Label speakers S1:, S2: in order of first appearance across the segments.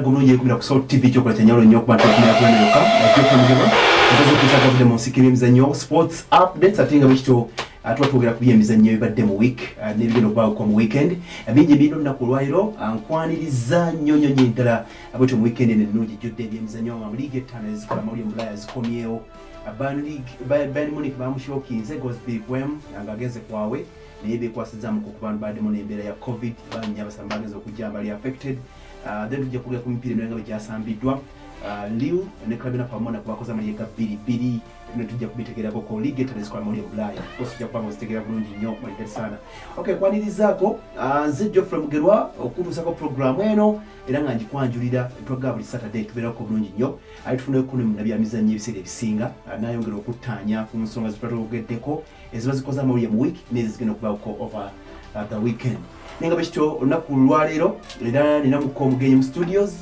S1: guno yekubira ku Salt TV kyokola kyanjawulo nnyo okuba nti okumira kulana yokka ekyokulemegebwa nsozi okuyita gavudde mu nsika ebyemizannyo sports updates ate nga bwekityo uh, tuba twogera ku byemizannyo ebibadde mu week uh, nebigenda okubaawo kwa mu weekend uh, bingi birina olunaku olwaliro nkwaniriza nnyo nnyo nyo ddala bwetyo mu weekend eno ennungi jjudde ebyemizannyo nga mu liigi ettaano ezikola amawulire mu bulaya zikomyewo bayern munich bamushokinze gosby kwem nga agenze kwawe naye bekwasizzamu ku kubantu baddemu n'embeera ya covid bannya basaba bagenza okujja mbali affected mm. Ah, then tujja kugera ku mipiira emirala nga bwe gyasambiddwa ah, liu ne club enaku amona kubakoze amaliye ga bbiri bbiri bino tujja kubitegeragoko liga etala ezikola mawulire bulaaya kosi tujja kubanga ozitegeera bulungi nnyo maliga sana ok kwanirizaako ah, nze geoffrey mugerwa okutuusako programu eno era nga ngikwanjulira twaga buli saturday tubeerako bulungi nnyo aye tufunayo kuno munabyamizannyo ebiseera ebisinga nayongera okuttaanya ku nsonga zetwatwogeddeko eziba zikoze amawulire mu week nezo zigenda okubaako over uh, the weekend naye nga bwekityo olunaku lwaleero era nina mukka omugenyi mu studios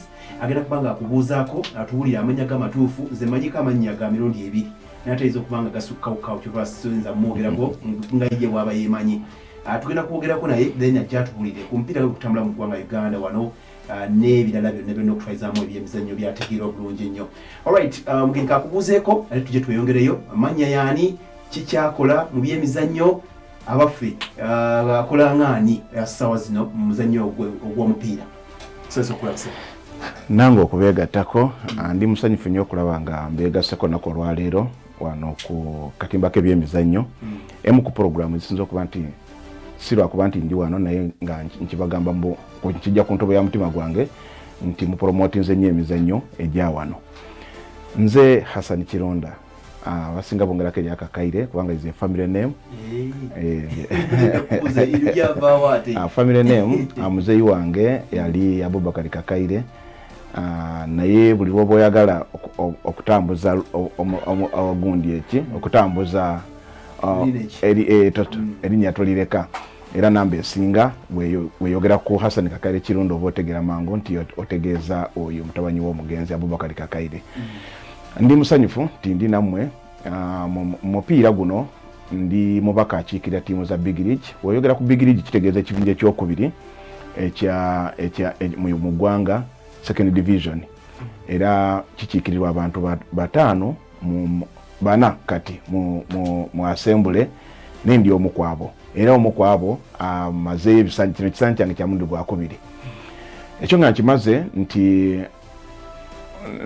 S1: agenda kuba nga akubuuzaako atuwulire amanya ge amatuufu nze manyiko amannya ga mirundi ebiri natayinza okuba nga gasukkawukawo kyova sinza mwogerako nga ye waaba yemanyi uh, tugenda kwogerako naye then ajja atuwulire ku mupiira gwekutambula mu ggwanga uganda wano uh, n'ebirala byonna byonna okutwalizaamu ebyemizannyo byategeera obulungi ennyo olright mugenka akubuuzeeko ate tujje tweyongereyo amannya yaani ki kyakola mu byemizannyo abaffe uh, akola ngaani uh, sawa zino mu muzannyo ogw'omupiira sasa okulabisa nange
S2: okubeegattako uh, ndi musanyufu nnyo okulaba nga mbeegasseko naku olwaleero wano ku katimba k'ebyemizannyo hmm. emu ku puroguramu ezisinza okuba nti si lwakuba nti ndi wano naye nga nkibagamba nkijja ku ntobo ya mutima gwange nti mupromotinze nnyo emizannyo egya wano nze hasani kironda Ah, abasinga ah, bongerako erya kakaire kubanga is a family name ah, family name ah, muzeeyi wange yali abubakari kakaire naye buli lwoba oyagala okutambuza ogundi eki okutambuza eh, mm. erinnya tolireka era namba esinga weyogera ku hasani kakaire kirundi oba otegera mangu nti otegeeza oyo mutabanyi w'omugenzi abubakari kakaire mm. Ndi musanyufu nti ndi nammwe ah, mu mupiira guno. Ndi mubaka akiikirira ttiimu za Big League. Oyogera ku Big League kitegeeza ekibinja ekyokubiri mu ggwanga, second division, era kikiikirirwa abantu bataano mu bana kati mu asembule naye ndi omu kwabo era omu kwabo amazeeyo ah, ebisanyi kino ekisanyi kyange kyamundi gwakubiri ekyo nga nkimaze nti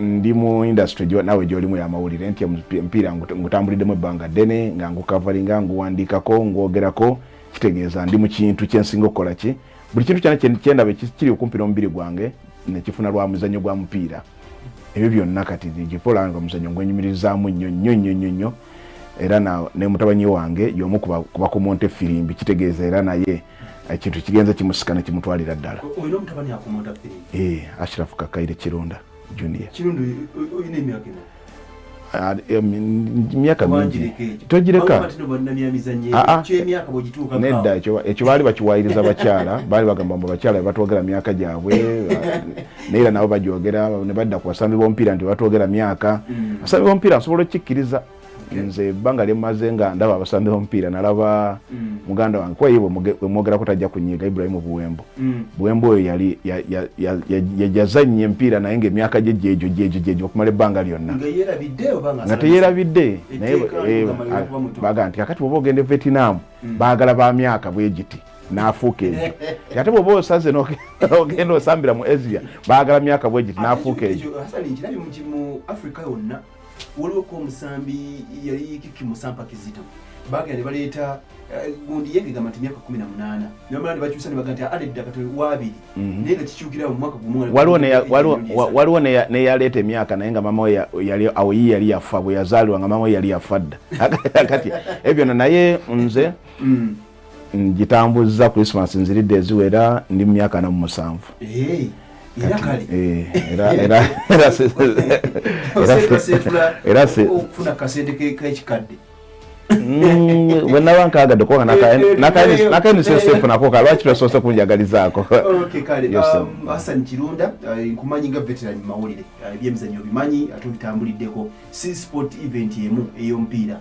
S2: ndi mu industry jo nawe joli mu yamawulire nti mpira ngutambulide mu banga dene nga ngukavalinga nguwandika ko ngogera ko kitegeeza ndi mu kintu kyensinga okola ki buli kintu kyana kyenda be kiri okumpira omubiri gwange ne kifuna lwa muzanyo gwa mpira ebyo byonna kati jipola nga muzanyo ngwenyumirizamu nyo nyo nyo nyo nyo era na ne mutabanyi wange yomu kuba kuba ku monte firimbi kitegeeza era naye ekintu eh, kigenze kimusika ne kimutwalira ddala
S1: eh, ashirafu kakaire
S2: kironda
S1: junior ah, eh,
S2: myaka mingi togireka ah, ah. nedda ekyo baali bakiwayiriza bakyala baali bagamba mbu bakyala bebatwogera myaka gyabwe naye era nabo bajogera nebadda ku basambi bomupiira nti bebatwogera myaka mm. abasambi bomupiira nsobola okukikkiriza nze ebbanga lyemaze nga ndaba abasambi bomupiira nalaba mm. muganda wange kuba ye wemwogerako tajja kunyiga ibrahimu buwembo mm. buwembo oyo yali yajaza nnyo empiira naye nga emyaka gye gyejo gyejo gyejo okumala ebbanga lyonna nga teyerabidde naye eh, baga nti kakati oba ogenda evetinamu mm. baagala ba myaka bwegiti nafuuka ejo ate bwoba osaze nogenda osambira mu asia baagala myaka bwegiti nafuuka ejo
S1: waliwo ko omusambi yali kiki musampa kizito bagenda ne baleeta eh, gundi yengegamba nti myaka kumi na munaana nebamala ne bakyusa ne baga nti ade ddaka toli waabiri mhm. naye nga kikyukira mu mwaka gumu waliwo neyaleeta
S2: emyaka naye nga mama yali awo yi yali yafa bwe yazaalibwa nga mama yali yafa dda kati ebyo no naye nze mm. ngitambuzza christmas nziridde eziwera ndi mumyaka namu musanvu
S1: eh, eh, mm, wenaba nkagadde
S2: kuba nakaenisesefo nako kalwaki twesoose kunjagalizaako
S1: kirunda nkumanyi nga veteran mumawulire ebyemizanyo obimanyi ate obitambuliddeko si sport event emu eyomupiira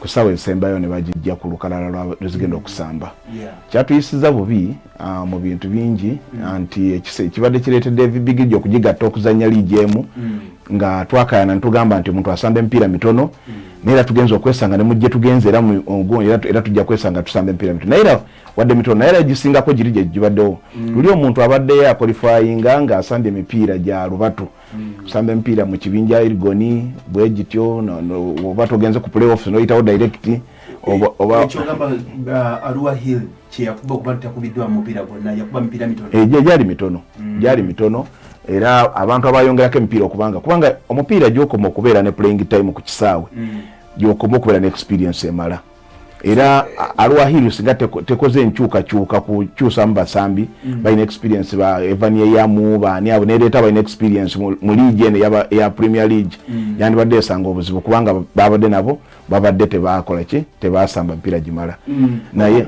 S2: ku ssaawa ezisembayo ne bagijja ku lukalala lwezigenda okusamba kyatuyisiza bubi ah, mu bintu bingi mm. ah, nti ekibadde kireetedde ebibigiji okugigatta okuzannya liigi emu mm. nga twakayana netugamba nti omuntu asamba emipiira mitono mm. naye era tugenza okwesanga nemujje tugenze era tujja kwesanga tusamba emipiira mitono naye era wadde mitono naye era egisingako giri gyegibaddewo luli omuntu abaddeyo akolifayinga ng'asamba emipiira gya lubatu kusamba emipiira mu kibinja irigoni bwe gityo oba togenze ku playoffs noyitawo direct
S1: gyali mitono gyali
S2: mitono era abantu abayongerako emipiira okubanga kubanga omupiira gyokoma okubeera ne playing time ku kisaawe mm. gyokoma okubeera ne experience emala era alwahiru singa tekoze enkyukakyuka kukyusamu basambi mm. balina experience ba evan eyamu baani abo nereeta balina experience mu league eno eya premier league mm. yandibadde esanga obuzibu kubanga babadde nabo babadde tebakola ki tebasamba mpira gimala mm. naye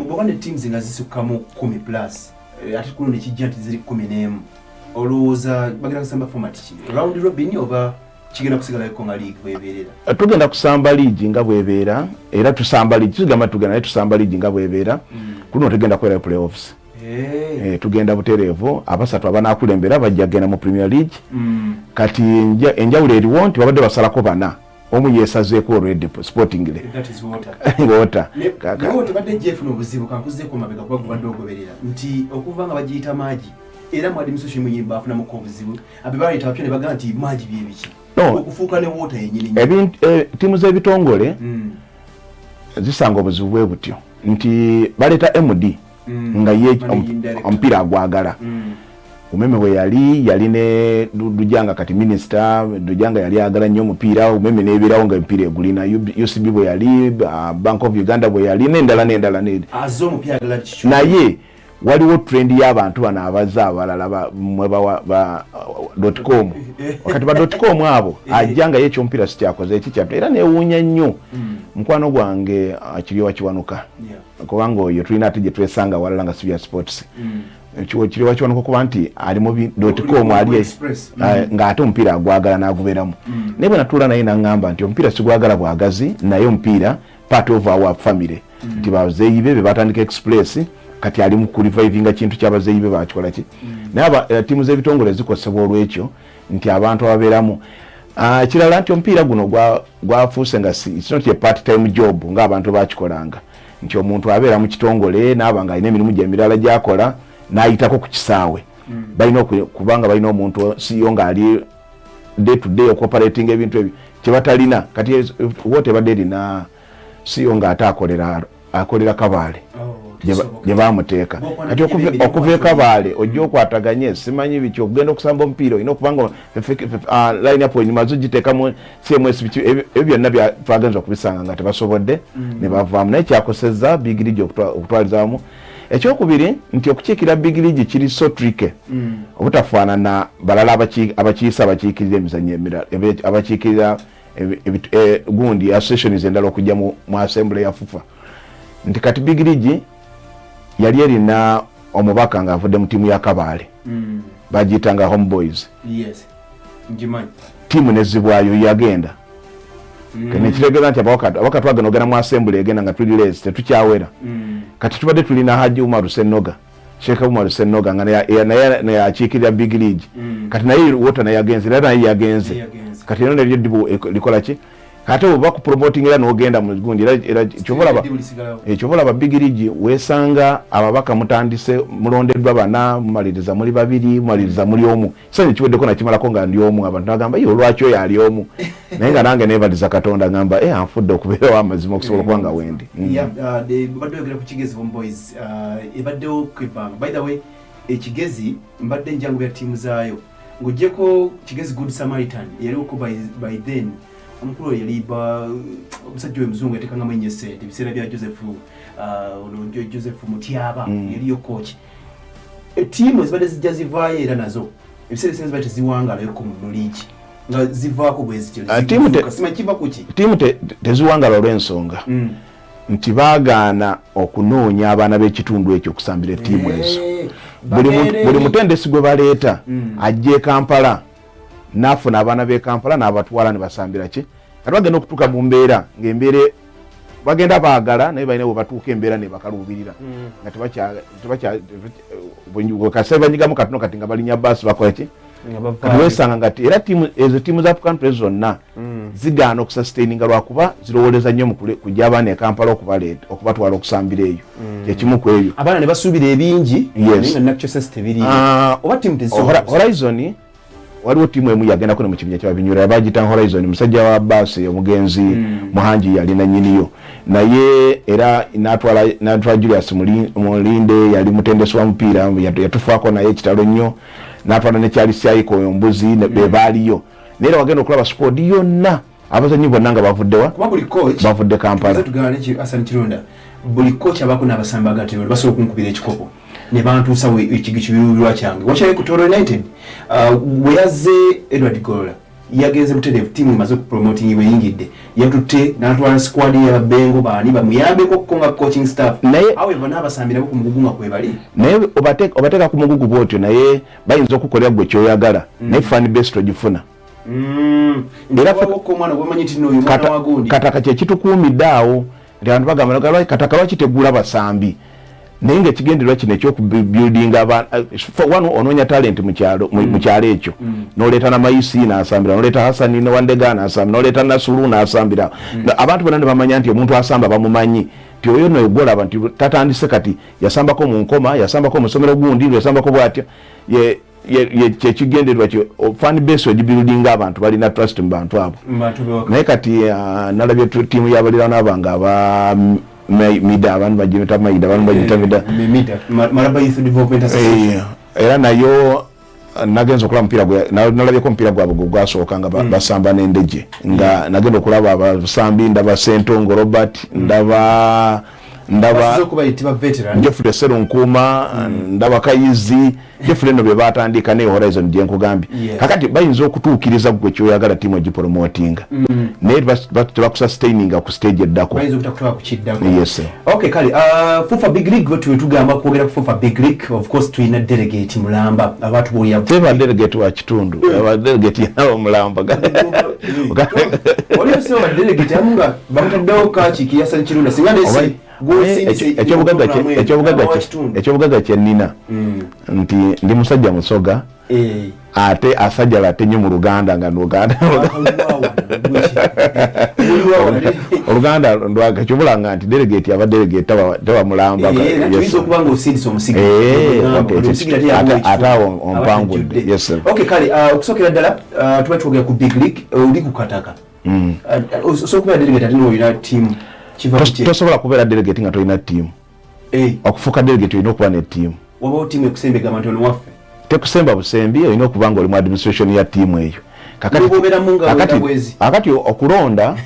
S1: kigenda kusigala ko nga liigi bwebeerera eh, tugenda kusamba
S2: liigi nga bwebeera era tusamba liigi tugamba tugenda naye tusamba liigi nga bwebeera mm. kulino tugenda kubeerayo playoffs eh. Eh, tugenda butereevu abasatu abanakulembera bajja kugenda mu premier league mm. kati enjawulo eriwo nti babadde basalako bana omu yesazeeko olwedde sportingly
S1: water tebadde
S2: jefuna obuzibu
S1: kankuzeeko mabega kuba gubadde ogoberera nti okuva nga bagiyita maagi era mwadi musoshi muyimba afunamuko obuzibu abibaleeta bapya ne bagamba nti maagi byebiki okufuuka ne woota yenyini eh, tiimu z'ebitongole
S2: hmm. zisanga obuzibu bwe butyo nti baleeta md hmm. nga ye omupiira agwagala hmm. umeme we yali yali ne dujanga kati minisita dujanga yali agala nnyo omupiira umeme nebeerawo nga emipiira egulina ucb bwe yali ah, bank of uganda bwe yali nendala nendala
S1: naye
S2: waliwo trend y'abantu bano abaza abalala mwebadotcom wakati badotcom abo eh. ajja nga yekyomupiira sikyakoze ekikyatu era newuunya nnyo hmm. mukwano gwange uh, kiryowa kiwanuka kubanga oyo tulina ate gyetwesanga walala nga sibya sports hmm. kiryowa kiwanuka kuba nti ali mu dotcom ali eh, hmm. nga ate omupiira agwagala naguberamu naye bwenatuula naye nangamba nti omupiira sigwagala bwagazi naye omupiira part of our family mm. nti bazeeyi be bebatandika express kati ali mukulivivinga kintu kyabazeeyi be bakikola ki mm. naye eh, tiimu z'ebitongole zikosebwa olwekyo nti abantu ababeeramu ah, kirala nti omupiira guno gwafuuse nga sinoti part time job ngaabantu bakikolanga nti omuntu abeera mu kitongole naaba nga alina emirimu gyemirala gyakola nayitako ku kisaawe mm. balina kubanga balina omuntu siyo ngaali day to day okoperating ebintu ebyo kyebatalina kati wote ebadde erina siyo nga ate akolera akolera kabaale gyebamuteeka oh, kati okuva ekabaale ojja okwataganye simanyi biki okugenda okusamba omupiira olina okubanga ah, line up enyuma zo giteekamu cms biki ebyo byonna twagenza okubisanga nga tebasobodde mm. nebavaamu naye kyakoseza bigiriji okutwalizamu ekyokubiri nti okukiikirira big league kiri so tricky mm. obutafaanana balala abakiisa abakiikirira emizanyo emirala abakiikirira e, gundi associations endala okujja mu assembly ya fufa nti kati big league yali erina omubaka ng'avudde mu tiimu ya kabaale mm. bagiyita nga home boys tiimu nezibwayo yagenda mm. nekitegeeza nti abawaka twagenda ogenda mu asembule egenda nga tuli leezi tetukyawera mm. kati tubadde tulina haji umaru senoga sheeka umaru senoga nga naye akiikirira big league mm. kati naye wota naye yagenze era naye yagenze kati eno neryo dibu e, likola ki ate oba ku promoting era nogenda mu gundi era kyovolaba ekyovolaba eh, big league wesanga ababaka mutandise mulondeddwa bana mumaliriza muli babiri mumaliriza muli omu sani kiweddeko nakimalako nga ndi omu abantu nagamba ye olwaki oyo ali omu naye nga nange nevaliza katonda ngamba e eh, anfudde okubeerawo amazima okusobola okuba nga wendi
S1: mm. uh, uh, ekigezi mbadde njangu bya tiimu zaayo ng'ogyeko kigezi good samaritan yaliwoko by then omukulu oyo yali omusajja oyo muzungu yatekangamu enyo esente ebiseera bya joseph uh, joseph mutyaba mm. yaliyo kooki ettiimu ezibadde zijja zivaayo era nazo ebiseera ebisinga zibadde teziwangalayoko mu muliiki nga zivaako bwezityosimaikiva ah, kuki ttiimu
S2: teziwangala olw'ensonga hmm. nti baagaana okunoonya abaana b'ekitundu ekyo okusambira ettiimu eh, ezo buli mutendesi gwe baleeta hmm. ajja e kampala n'afuna abaana b'e kampala n'abatwala ne basambira ki kati bagenda okutuuka mu mbeera ng'embeera bagenda baagala naye balina webatuuka embeera nebakaluubirira mm. nga tebakyasekasai banyigamu katino kati nga balinya baasi bakolaki kati wesanga ngati era ezo tiimu za african press zonna mm. zigaana okusastaininga lwakuba zirowoleza nnyo kujja abaana ekampala okubaleeta okubatwala okusambira eyo mm. kyekimu ku ebyo abaana nebasuubira ebingi
S1: ah, horizon
S2: waliwo tiimu emu yagendako ne mu kibinja kya binyura yabagita horizon musajja wa baasi omugenzi mm. muhangi yali nanyiniyo naye era natwala julius mulinde yali mutendesi wa mupiira yatufaako naye ekitalo nnyo natwala nekyali syayiko oyo mbuzi mm. bebaaliyo naye era wagenda okulaba squad yonna abazanyi bonna nga bavuddewa bavudde kampala
S1: buli coach abako nabasamba agati bali basobola okunkubira ekikopo ne bantuusa ekigo kibiruubirwa kyange wakyaye ku toro united uh, bwe yazze edward golola yagenze butereevu tiimu emaze okupromoting bweyingidde yatutte natwala squad yababengo baani bamuyambeko okuko nga coaching staff naye however nabasambirako ku mugugu nga kwebali naye
S2: obateeka ku mugugu bwotyo naye bayinza okukolera gwe kyoyagala mm. naye fan base togifuna mm. kataka kyekitukuumidde awo nti abantu bagamba kataka lwaki tegula basambi naye nga ekigendererwa kino ekyokubuildinga one onoonya talenti mu kyalo mm. ekyo mm. noleeta namayisi nasambira noleeta hasani newandega nasambira noleeta nasulu nasambira mm. abantu bona nebamanya nti omuntu asamba bamumanyi ti oyo noyo gwolaba nti tatandise kati yasambako mu nkoma yasambako musomero gundi yasambako bwatya kyekigendererwa fan base ogibiludinga abantu balina trust mu bantu abo naye kati uh, nalabye tiimu yabalirana bange aba mm, mida abantu bagibita maida abantu bagita mida
S1: eh, era nayo uh,
S2: nagenza okulaba mupiira nalabyeko omupiira gwabwe gwe gwasooka nga hmm. basamba n'endege nga hmm. nagenda okulaba abasambi ndaba sentongo robert hmm. ndaba ndaba jeffrey serunkuuma mm. ndaba kayizi jeffrey no bebatandika ne horizon gyenkugambye kakati bayinza okutuukiriza gwe kyoyagala tiimu ogiporomotinga mm. naye tebakusa staininga ku stage eddako
S1: teba delegate wa
S2: kitundu delegate yaba mulamba
S1: bamutaddewo kaki kiyasali kirunda singa nesi ekyobugaga kyenina mm. nti ndi musajja musoga eh. ate asajala ate nyo mu luganda nga nuganda oluganda ndwaga kyobulanga nti delegate aba delegate taba mulamba ate awo ompangudde okusokera ddala uh, tuba twogera ku big league uh, oli kukataka mm. uh, uh, so kubeera delegate ate noyina tiimu tosobola
S2: kubeera delegate nga tolina tiimu eh. okufuuka delegate olina okuba ne tiimu wabawo tiimu ekusemba
S1: egamba nti ono waffe tekusemba busembi
S2: olina okuba nga oli mu administration ya tiimu eyo kakati okulonda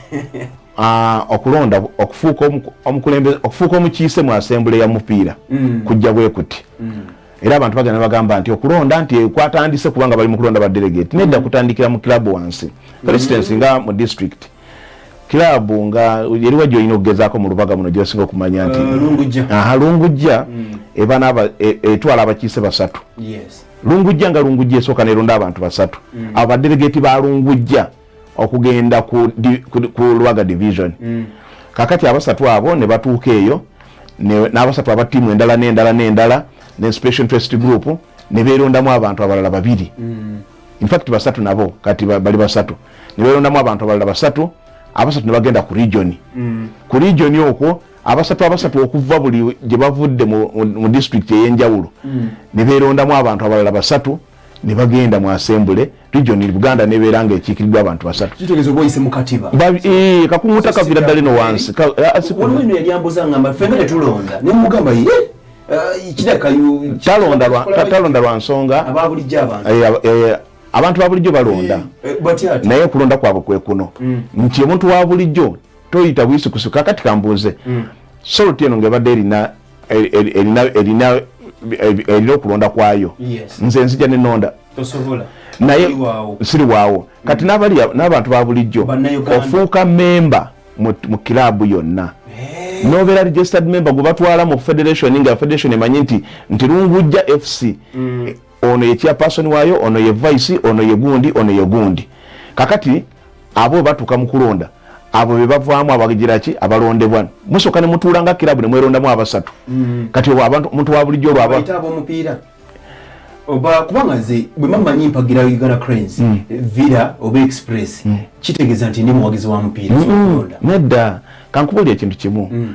S2: ah, okulonda okufuuka omukiise mu asembule ya mupiira mm. kujja bwekuti mm. era abantu bagenda bagamba nti okulonda nti kwatandise kubanga bali mukulonda ba delegate nedda mm-hmm. kutandikira mu club wansi mm-hmm. for instance nga mu district club nga eriwa gyolina okugezaako mu lubaga muno gyosinga okumanya nti uh, aha lungujja mm. ebana e, etwala abakiise basatu lungujja nga lungujja esooka neronda abantu basatu mm. abo badelegate ba lungujja okugenda ku, di, ku, ku lwaga division mm. kakati abasatu abo ne batuuka eyo n'abasatu aba tiimu endala n'endala n'endala ne special interest group ne beerondamu abantu abalala babiri mm. infact basatu nabo kati bali basatu ne beerondamu abantu abalala basatu abasatu ne bagenda ku region mm. ku region okwo abasatu abasatu okuva buli gye bavudde mu, mu, mu district ey'enjawulo mm. ne beerondamu abantu abalala basatu mm. ne bagenda mu asembule region in buganda nebeera nga ekiikiriddwa abantu basatu kitegeeza oba oyise mu katiba
S1: eh, kakumuta
S2: kavira ddala eno wansi waliwo eno yali
S1: ambuza ngamba ffenga tetulonda ne mugamba ye eh,
S2: talonda lwa nsonga ababulijjo abantu
S1: eh, eh,
S2: abantu babulijjo balonda naye okulonda kwabwe kwekuno mm. nti omuntu wabulijjo toyita bwisukusuka kati kambuuze mm. solti eno ngaebadde erina erina okulonda kwayo nze nzija nenonda
S1: naye
S2: siri waawo kati n'abantu ba bulijjo ofuuka memba mu kilabu yonna nobeera registered member gwe batwala mu federation nga federation emanyi nti nti lungujja fc mm. ono ye chairperson wayo ono ye vice ono ye gundi ono ye gundi kakati abo batuka mukulonda abo bebavaamu abagiraki abalondebwa musoka ne mutuula nga kilabu ne mwerondamu abasatu mm. kati obo abantu omuntu wa bulijjo olwaba omupiira
S1: oba kubanga nze bwe mamanyi mpagira uganda cranes mm. villa oba express mm. kitegeeza nti ndi muwagizi wa mupiira mm. nedda
S2: kankubulira ekintu kimu mm.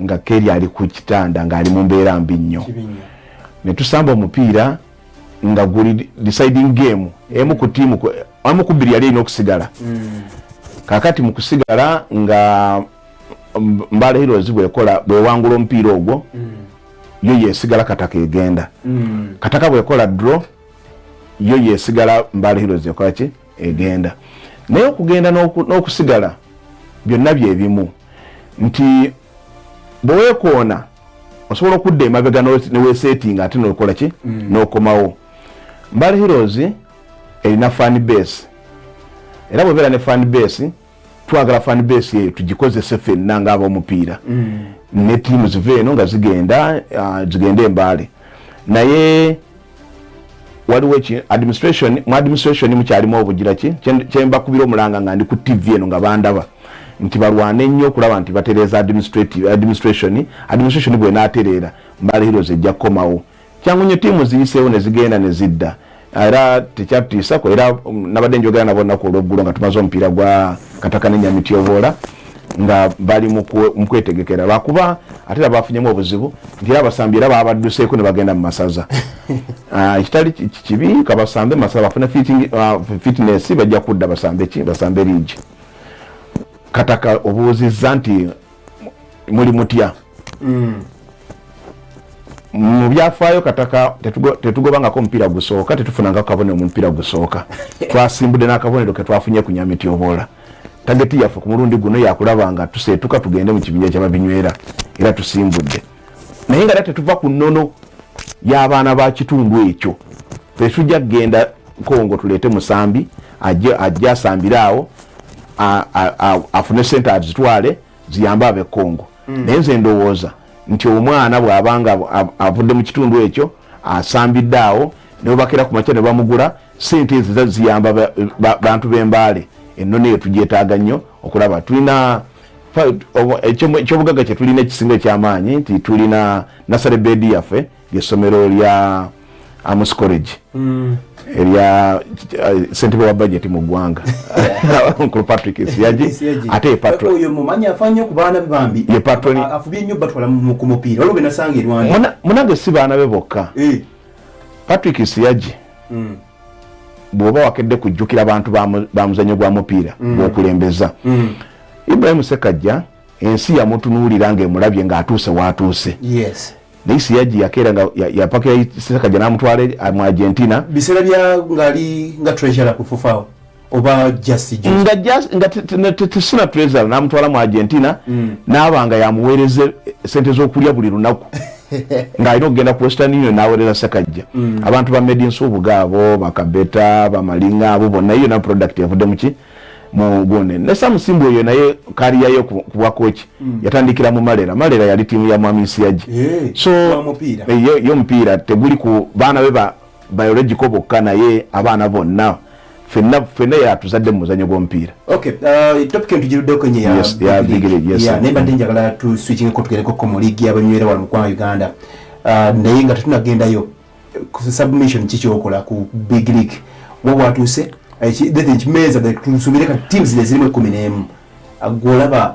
S2: nga keri ali ku kitanda ng'ali mu mbeera mbi nnyo ne tusamba omupiira nga guli deciding game emu ku tiimu amu ku bbiri yali erina okusigala hmm. kakati mu kusigala nga mbala heroes bwekola bwewangula omupiira ogwo hmm. yo yesigala kataka egenda hmm. kataka bwekola dro yo yesigala mbala heroes ekolaki egenda naye okugenda n'okusigala byonna byebimu nti bwewekoona osobola okudda emabega newesetinga ate nokola ki mm. nokomawo mbale heroes erina fan base era bwebeera ne fan base twagala fan base yeyo tugikozese fenna nga abomupiira mm. ne tiimu ziva eno nga zigenda uh, zigenda embaale naye waliwo ki administration mu administration mukyalimu obugira ki kyembakubira omulanga nga ndi ku tv eno nga bandaba nti balwane ennyo okulaba nti batereeza administration administration bwenatereera mbala heroes ejja kukomawo kyangu nnyo tiimu ziyiseewo ne zigenda ne zidda era tekyatutiisako era um, nabadde njogera nabo nnaku olweggulo nga tumaze omupiira gwa kataka ne nyamityoboola nga bali mu kwetegekera lwakuba ate era bafunyemu obuzibu nti era abasambi era babadduseeko ne bagenda mu masaza ah, ekitali kibi kabasambe masaza bafune ah, fitness bajja kudda basambe ki basambe liigi kataka obuuzizza nti muli mutya mm. mu byafaayo kataka tetugobangako omupiira gusooka tetufunangako kabonero mu mupiira gusooka twasimbudde n'akabonero ke twafunye ku nyamityoboola tageti yaffe ku mulundi guno yakulaba nga tuseetuka tugende mu kibinja kyababinywera era tusimbudde naye nga era tetuva ku nnono y'abaana ba kitundu ekyo tetujja kugenda nkongo tuleete musambi ajja asambire awo afune sente azitwale ziyambe abe kongo mm. naye nze ndowooza nti omwana bwabanga avudde mu kitundu ekyo asambidde awo nebubakera ku makya ne bamugula sente ezo ziyamba bantu b'embaale ennono eyo tugyetaaga nnyo okulaba tulina ekyobugagga kyetulina ekisinga ekyamaanyi nti tulina nasale bedi yaffe lyessomero lya amus college mm. erya eh, sentebe wa bajeti mu ggwanga nkulu patrick siyagi ate ye
S1: patronmunange si baana be
S2: bokka eh. patrick siyagi mm. bwoba wakedde kujjukira bantu ba muzanyo gwa mupiira mm. gwokulembeza mm. ibrahim sekajja ensi yamutunuulira ngaemulabye ngaatuuse waatuuse naye
S1: siyaji
S2: yakeera nga yapakira sekajja namutwala mu argentina biseera bya
S1: ngaali nga treasure kufufaawo oba jasi nga jasi nga
S2: tetusina treza namutwala mu argentina mm. naaba nga yamuweereza eh, sente zokulya buli lunaku nga alina okugenda ku western union naweereza sekajja mm. abantu ba made insubuga abo bakabeta bamalinga abo bonna iyo na product yavudde muki mugone ne samusimbu oyo naye kariyayo kubwakoki mm. yatandikira mu malera malera yali tiimu ya mwami nsiyaji eh, so eh, yo mupiira teguli ku baana be ba biological bokka naye abaana bonna fenna fenna yatuzadde mu muzanyo gw'omupiira okay uh,
S1: topic entugiruddeko nye ya yes, ya bigire yes
S2: ya nemba ndi njagala tu
S1: switching ko tugereko ko mu league y'abanywera wano mu kwa Uganda uh, naye nga tetunagendayo ku submission kiki okola ku big league wo watuuse ekimeza tusuubire ka teams zino zirimu ekkumi n'emu uh, gwolaba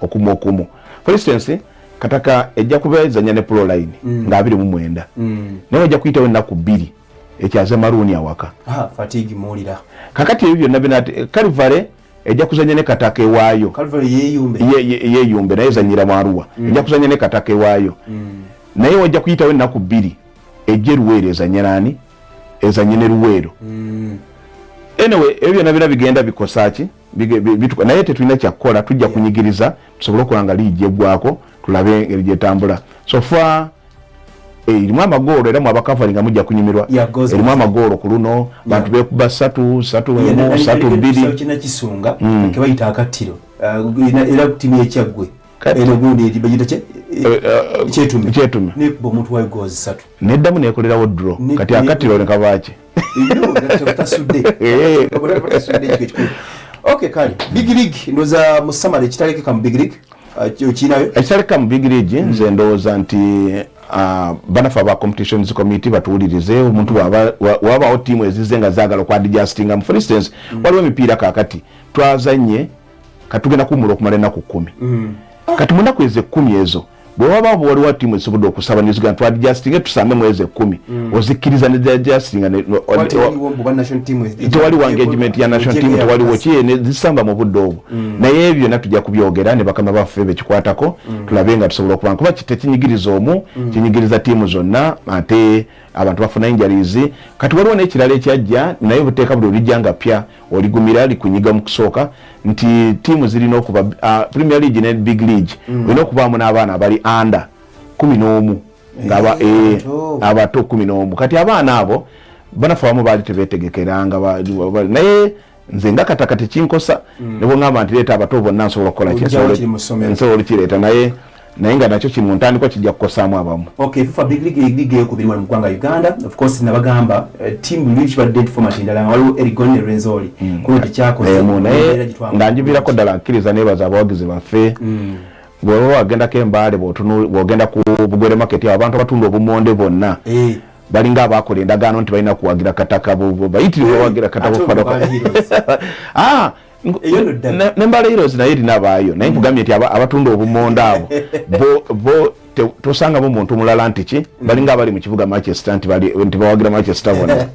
S2: okumu okumu for instance kataka ejja kuba ezanya ne proline mm. nga abiri mu mwenda mm. naye ejja kuyitawo ennaku bbiri ekyaza maruuni awaka ah, fatigue muwulira
S1: kakati ebyo byonna bina
S2: kalivale ejja kuzanya ne kataka ewaayo
S1: yeyumbe
S2: naye ezanyira mu aruwa mm. ejja kuzanya ne kataka ewaayo mm. naye wajja kuyitawo ennaku bbiri ejja eruweero ezanya naani ezanye ne luweero mm. anyway ebyo byonna bina bigenda bikosa ki bituka naye tetulina kyakukola tujja kunyigiriza tusobole okuba nga liigi eggwako tulabe engeri gyetambula sofa eh, erimu amagoolo era mwabakavali nga mujja kunyumirwa erimu amagoolo ku luno bantu bekuba satu satu emu satu
S1: bbiri neddamu nekolerawo
S2: dro kati akatiro nekabaki
S1: ok kale big league ndoza musamala ekitalekeka mu big league uh, okirinayo ekitalekeka mu big
S2: league nze hmm. ndowooza nti uh, banafe aba competitions committee batuwulirize omuntu wabawo tiimu ezize nga zagala okwadijastingamu for instance hmm. waliwo emipiira kakati twazanye katugenda kuwumula okumala enaku kumi hmm. kati munaku ezo ekumi ezo bwe waba waliwo ttiimu ezisobodde okusaba new zealand twadijasitinge tusambe mwezi ekkumi mm. ozikkiriza nedijasitinga tewaliwo engagement ya national team tewaliwo kiye nezisamba mu budde obwo mm. naye ebyo na tujja kubyogera ne bakama baffe bekikwatako mm. tulabe nga tusobola okubanga kuba tekinyigiriza omu kinyigiriza ttiimu zonna ate abantu bafuna injalizi kati waliwo nekirala ekyajja naye buteeka buli olijja nga pya oligumira likunyiga mu kusooka nti tiimu zirina okuba uh, premier league ne big league mm. olina okubaamu n'abaana abali anda kumi n'omu ngaba eh, eh, abato kumi n'omu kati abaana abo banafe abamu baali tebetegekeranga naye nze nga kataka tekinkosa mm. nebwengamba nti leeta abato bonna nsobola okukola nsobola olukireeta naye naye nga nakyo kiri mu ntandikwa kijja kukosaamu abamu okay fifa big league league
S1: league yokubiri wano mu ggwanga uganda of course nabagamba uh, eh, team luli kibadde nti format endala nga waliwo erigon ne renzoli mm. kuno tekyakoze mm. naye nga
S2: njivirako ddala nkiriza nebaza abawagizi baffe mm. bweba wagendako embaale bwogenda ku bugwere market abo abantu abatunda obumonde bonna eh. balinga abakola endagaano nti balina kuwagira kataka bayitiriwe wagira kataka ah, nembala heroes naye erina baayo naye mm. nkugambye nti abatunda obumonda abo bo tosangamu muntu mulala nti ki mm. balinga abali mu kibuga manchester nti bawagira manchester bona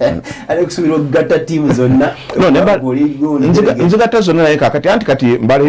S1: nzigatta
S2: zonna naye kakati anti kati mbala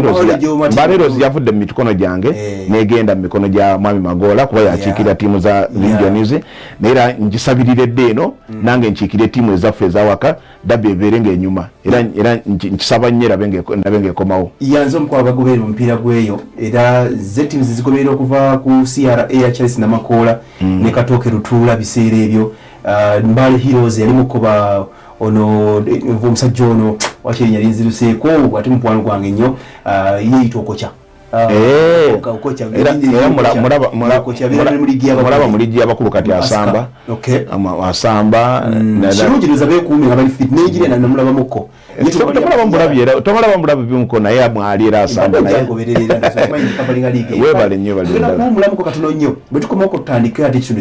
S2: heroes yavudde mu mikono gyange eh. negenda mu mikono gya mwami magoola kuba yakiikirira tiimu za regions naye era ngisabirira edda eno mm. nange nkiikire tiimu ezaffe ezawaka dabi ebeere ng'enyuma era era nkisaba nnyo erabe ng'ekomawo yanze omukuba abagoberera
S1: omupiira gweyo era ze tiimu zizigoberera okuva ku cra ya charles namakoola mm. ne katooke lutuula biseera ebyo uh, mbale heroes yali mukuba ono omusajja ono wakiri yali nziruseeko ate mukwano gwange nnyo uh, yeeyita okokya Ah, eh,
S2: mulaba muligi yabakulu kati asamba
S1: asamba mm.
S2: tomulaba mulabi bimuko naye mwali era asambawebale
S1: nyo baliulamu katono nyo bwetukomaokutandika ate kino